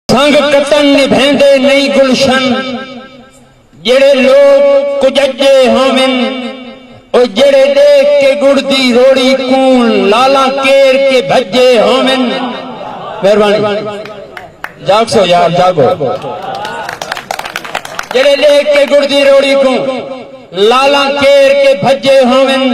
سنگ کتن نبھیندے نئیں گلشن جیڑھے لوک کججے ہوون او جیڑھے ڈیکھ کے گڑ دی روڑی کون لالاں کیر کے بھجے ہوون مہربانی جاگ سو یار جاگو جڑے دیکھ کے گڑ دی روڑی کو لالا کیر کے بھجے ہوون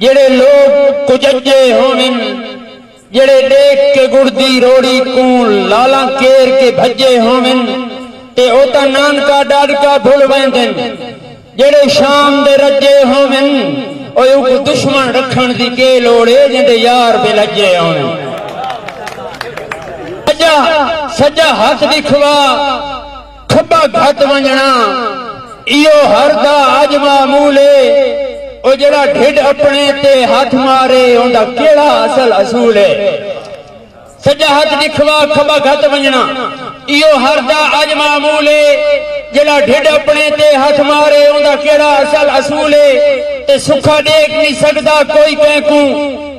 جیڑھے لوک کججے ہوون جیڑھے ڈیکھ کے گڑدی روڑی کوں لالاں کیر کے بھجے ہوون تے او تاں نانکا ڈاڈکا بھل ویندن جیڑھے شام دے رجے ہوون او اونکوں دشمن رکھن دی کے لوڑ اے جیندے یار بے لجے ہوون سجا سجا ہتھ ڈکھوا کھٻا گھت ونڄݨا ایہو ہر دا اڄ معمول اے او جیڑھا ڈھڈ اپݨے تے ہتھ مارے اوندا کیڑھا اصل اصول اے سڄا ہتھ ݙکھوا کھٻا گھت ونڄݨا ایہو ہر دا اڄ معمول اے جیڑھا ڈھڈ اپݨے تے ہتھ مارے اوندا کیڑھا اصل اصول اے تے سکھا ݙیکھ نی سڳدا کوئی کینکوں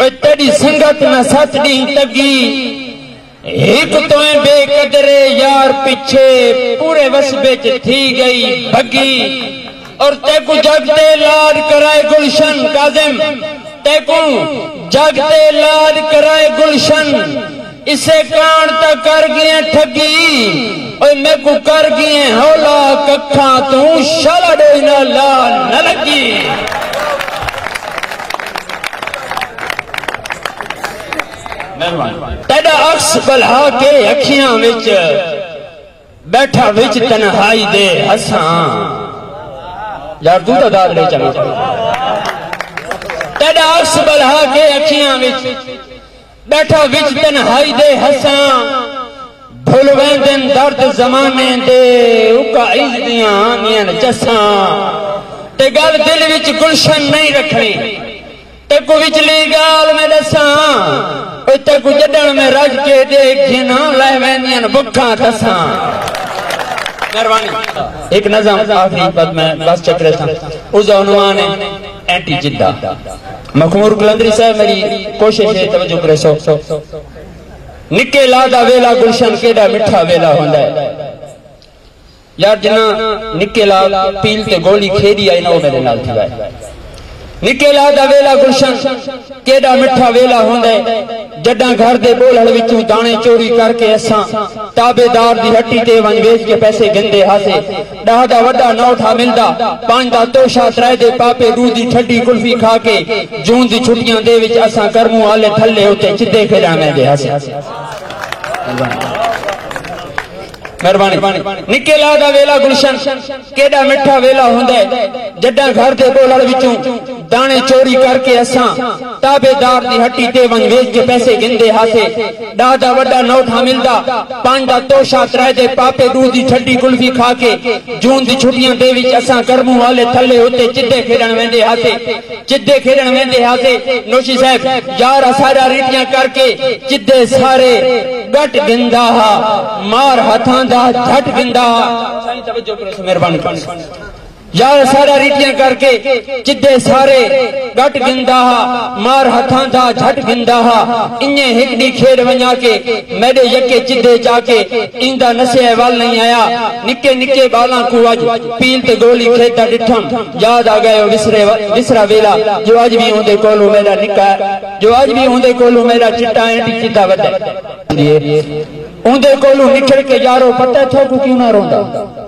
اے تیڈی سنگت نہ ست ڈینہہ تگی ہک توئیں بے قدرے یار پچھے پورے وسبے چ تھی گئی بھگی اور تیکوں جگ تے لاد کرائے گلشن کاظم تیکوں جگ تے لاد کرائے گلشن اسے کاݨ تاں کر ڳیئں ٹھڳی اوئے میکوں کر ڳیئں ہولا ککھاں توں شالا ݙوئی نال لا نہ لڳی۔ تیݙا عکس ٻلھا کے اکھیاں وچ ٻیٹھا وچ تنہائی دے ہساں یار توں تاں داد ݙے چنگا تیݙا عکس ٻلھا کے اکھیاں وچ ڈٹھا وچ تنہائی دے ہساں بھل ویندن درد زمانے دے اکا عز دیاں آندین چساں تے گل دل وچ گلشن نہیں رکھنی تیکو وچلی گال میں دساں اوے تیکو جڈن میں رج کے دے گھنا لے ویندین بکھاں دساں ایک نظم آخری بعد میں بس چکرے تھا اس عنوان ہے اینٹی جدہ مخمور قلندری صاحب میری کوشش ہے توجہ کرے سو نکے لا دا ویلا گلشن کیڈا مٹھا ویلا ہوندا ہے یار جنا نکے لا پیل تے گولی کھیری آئی نہ وہ میرے نال تھی گئے نکے لا دا ویلا گلشن کیڈا مٹھا ویلا ہوندا ہے جڈاں گھر دے بولڑ وچوں دانے چوری کر کے اساں تابے دار دی ہٹی تے ونج ویچ کے پیسے گندے ہاسے ݙاہ دا وݙا نو ٹھا ملدا پنج دا توشہ ترائے دے پاپے ݙو دی ٹھڈی کلفی کھا کے جون دی چھٹیاں دے وچ اساں کرموں آلے تھلے اتے چدے کھیݙاں ویندے ہاسے مہربانی نکے لا دا ویلا گلشن کیڈا مٹھا ویلا ہوندا ہے جڈاں گھر دے بولڑ وچوں دانے چوری کر کے اساں تابع دار دی ہٹی تے ونج ویج کے پیسے گھندے ہاسے۔ ڈاہ دا وڈا نوٹ ہاں ملدا۔ پنج دا توشہ ترائے دے پاپے ڈو دی ٹھڈی کلفی کھا کے۔ جون دی چھٹیاں دے وچ اساں کرموں والے تھلے اتے چدے کھیڈن ویندے ہاسے۔ چدے کھیڈن ویندے ہاسے۔ نوشی صاحب یار اساڈا ریٹیاں کر کے چدے سارے گٹ گھندا ہا۔ مار ہتھاں دا جھٹ گھندا ہا۔ سائیں توجہ کرو سو مہربانی۔ یا او سارا ریٹیاں کر کے چدھے سارے ڈٹ گھندا ہا مار ہتھاں دا جھٹ گھندا ہا انجے ہک ڈی کھیڈ ونجا کے میڈے یکے چدھے جا کے ایندا نسیے ول نہیں آیا نکے نکے بالاں کوں اج پیل تے گولی کھیڈدا ڈٹھم یاد آ گئے او وسرے وسرا ویلا جو اج وی اوندے کولوں میڈا نکا جو اج وی اوندے کولوں میڈا چٹا اینٹی چدا وڈا اوندے کولوں نکھڑ کے یارو پتہ تھو کو کیوں نہ روندا